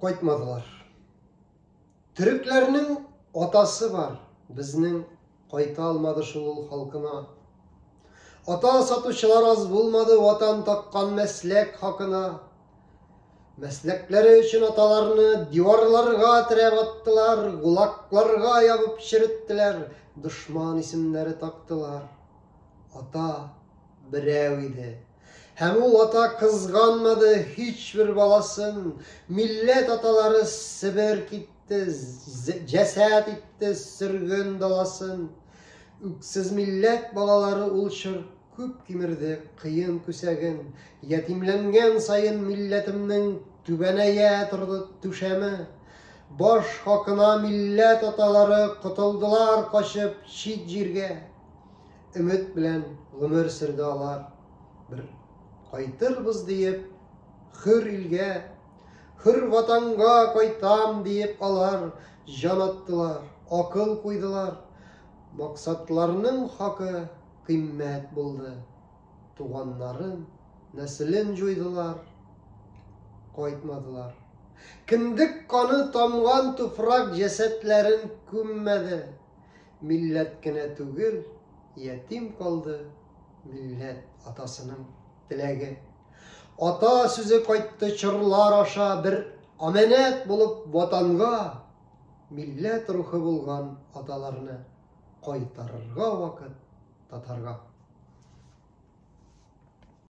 Кайтмадылар. Төрекләрнең атасы бар, безнең кайта алмады шул ул халкына. Ата сатучылар аз булмады ватан таккан мәсләк хакына. Мәсләкләре өчен аталарны диварларга терәп аттылар, гулакларга ябып череттеләр, дошман исемнәре тактылар. Ата берәү иде, Һәм ул ата кызганмады һичбер баласын, милләт аталары Себер китте, җәсәт итте сөрген даласын. Үксез милләт балалары ул чор күп кимерде кыен күсәген, ятимләнгән саен милләтемнең түбәнәя торды түшәме. Баш хакына милләт аталары котылдылар качып чит җиргә. Өмет белән гомер сөрде алар. Бер кайтырбыз диеп, хөр илгә, хөр ватанга кайтам диеп алар җан аттылар, акыл куйдылар. Максатларның хакы кыйммәт булды. Туганнарын, нәселен җуйдылар, кайтмадылар. Кендек каны тамган туфрак җәсәтләрен күммәде. Милләт кенә түгел, ятим калды милләт атасының теләге. Ата сүзе кайтты чорлар аша бер аманәт булып ватанга милләт рухы булган аталарны кайтарырга вакыт татарга.